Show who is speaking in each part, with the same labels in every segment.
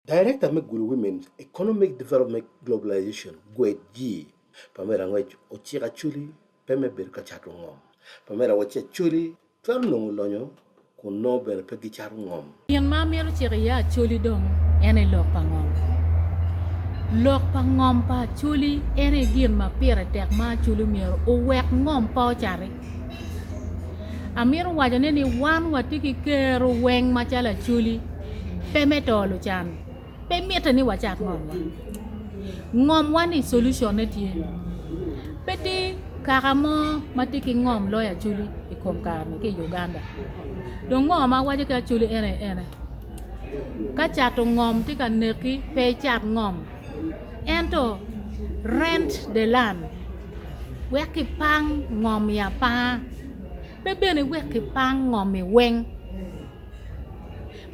Speaker 1: Director me Gulu Women's Economic Development Globalization, GWED, jii, Pamela Ngwec ociko Acholi pe me bedo ka cato ngom. Pamela wacci Acholi twero nongo lonyo kun nongo bene pe gicato ngom. Gin ma amito ciko
Speaker 2: iye Acholi dong en aye lok pa ngom. Lok pa ngom pa Acholi en aye gin ma pire tek ma Acholi myero owek ngom pe ocati. Amito waco ne ni wan watye ki kero weng macalo acholi pe me to lucan pe mitte ni wacak ngom wa ngom wa ni solution ne tye pe tye kaka mo ma tye ki ngom loyo acholi i kom kare ni ki i Uganda dong ngo ma awaco ki acholi en aye ene ka cato ngom tye ka neki pe icak ngom ento rent the land. Wek kipang ngom i apanga pe bene wek kipang ngom i weng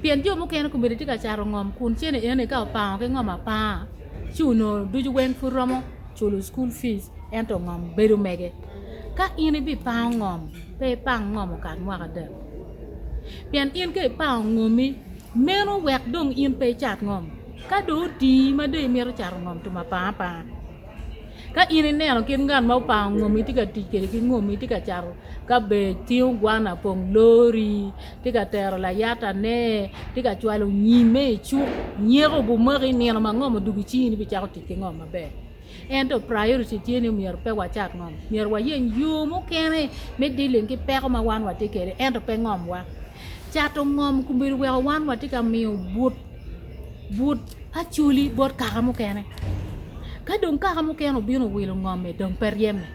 Speaker 2: pien jo mukene komedo tye ka cato ngom kun cene eni ka opango ki ngom apanga ci onongo ducu weng pud romo culo cukul pic ento ngom bedo mege ka in ibipango ngom pe ipang ngom okat mwaka adek pien in ka ipango ngomi meno wek dong in pe icat ngom ka dong otii ma dong imito cato ngom tum apanga apanga. Ka in ineno kit ngat ma opango ngomi tye ka tic kwede ki ngomi tye ka cato kabej, tingo gwana, pongo lori, tye ka tero layatane, tye ka cwalo nyimme i cuk, nyeko obumaki i nino ma ngom odwogo icingi ni bicako tic ki ngom maber. Ento priority tye ni myero pe wacak ngom, myero wayeny yo mukene me dealing ki peko ma wan watye kwede ento pe ngomwa. Cato ngom obedo weko wan watye ka miyo but acholi bot kaka mukene ka dong kaka mukene obino owilo ngomme dong pe ryeme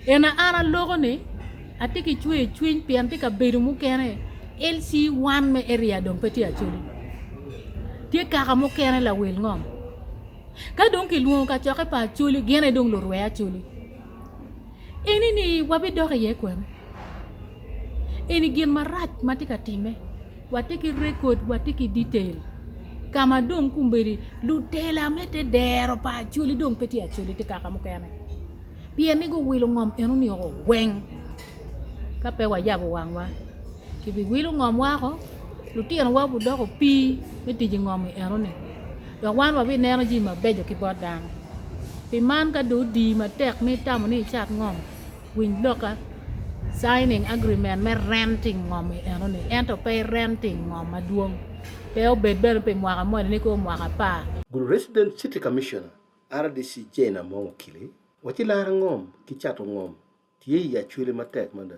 Speaker 2: eni an aloko ni atye ki cwer cwiny pien tye kabedo mukene LC wan me area dong pe tye acholi tye kaka mukene lawil ngom ka dong kilwongo kacokke pa acholi gin aye dong lurwe acholi. eni ni wabidok iye kwene eni gin marac ma tye ka timme watye ki rekod watye ki detail ka ma dong kombeddi lutela me te dero pa acholi dong pe tye acholi tye kaka mukene pien ni guwilo ngom eno ni woko weng ka pe wayabo wangwa kibiwilo ngom wako lutinowa gudoko opii me tic i ngom eno ni. Dok wan wabineno jami mabeco ki bot dano. Pi man, ka dong odiyi matek ni itamo ni icat ngom, winy lokka. Signing agreement me rent i ngom i enoni, ento pe i rent i ngom madwong, pe obed bene pi mwaka moni ni koo mwaka apar. Gulu Resident City
Speaker 1: Commissioner, RDC, Jane Among Okili waci laro ngom ki cato ngom tye i acwele matek mada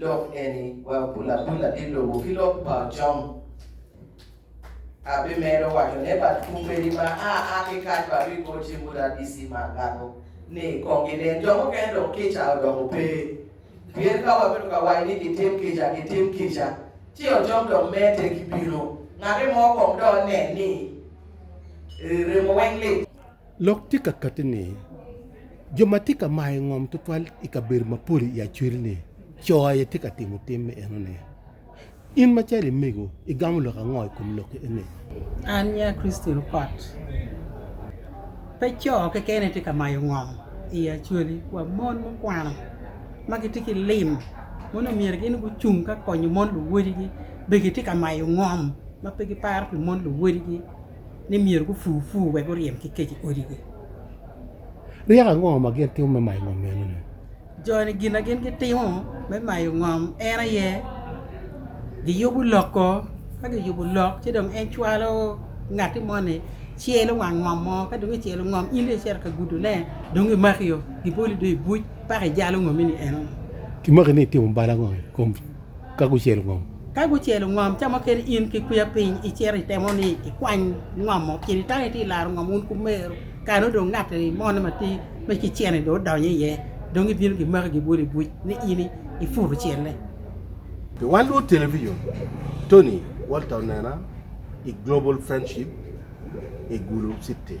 Speaker 3: Lok eni wa pulapula ki lubo ki lok pa Ocom. Abimedo waco ne bat kumbedi ma a a ki kac batu i kor cimbu RDC mar Gago ni kong ginen. Jo mukene dong kica odoko pe. Pien ka wabedo ka waco ni gitim kica, gitim kica, ci Ocom dong mete ki bino. Ngati mo kong dong onen ni remo weng lit. Lok tye ka
Speaker 1: kati ni, jo ma tye ka mayo ngom tutwal i kabedo mapol i Acholi-ni, co aye tye ka timo tim me enoni. In macalo i mego, igamo lok ango i kom lok eni? An nya
Speaker 4: Christy Rupot. Pe co kekeni tye ka mayo ngom i Acholi, wa mon mukwano ma gitye ki lim ma nongo myero gin gucung ka konyo mon luwodigi bene gitye ka mayo ngom ma pe giparo pi mon luwodigi. ni myero gupur pur wek guryem ki kec i odigi.
Speaker 5: Ryeko ango ma gin timo me mayo ngom meno-ni? Jo-ni gin
Speaker 4: ma gin gitimo me mayo ngom en aye giyubo lok ko, ka giyubo lok ci dong en cwalo ngatti moni celo wang ngom mo, ka dong ecelo ngom in dong icito ka gudone dong gimakio giboli dong i buc paka ijalo ngomi-ni eno. Kimaki ni itimo
Speaker 5: bal ango i kom Ka gucelo ngom. Ka gucelo ngom,
Speaker 4: ca mukene in ki kwiya piny icito itemo ni ikwany ngomo. Cen itang itye ilaro ngom wun ku meru, kare nongo dong ngat moni ma tye me ki cen-ni dong odonyo iye, dong gibino gimaki gibwolo i buc ni in iputo celle. Pi
Speaker 5: wan luwod television, Tony Walter onena i Global Friendship i Gulu City.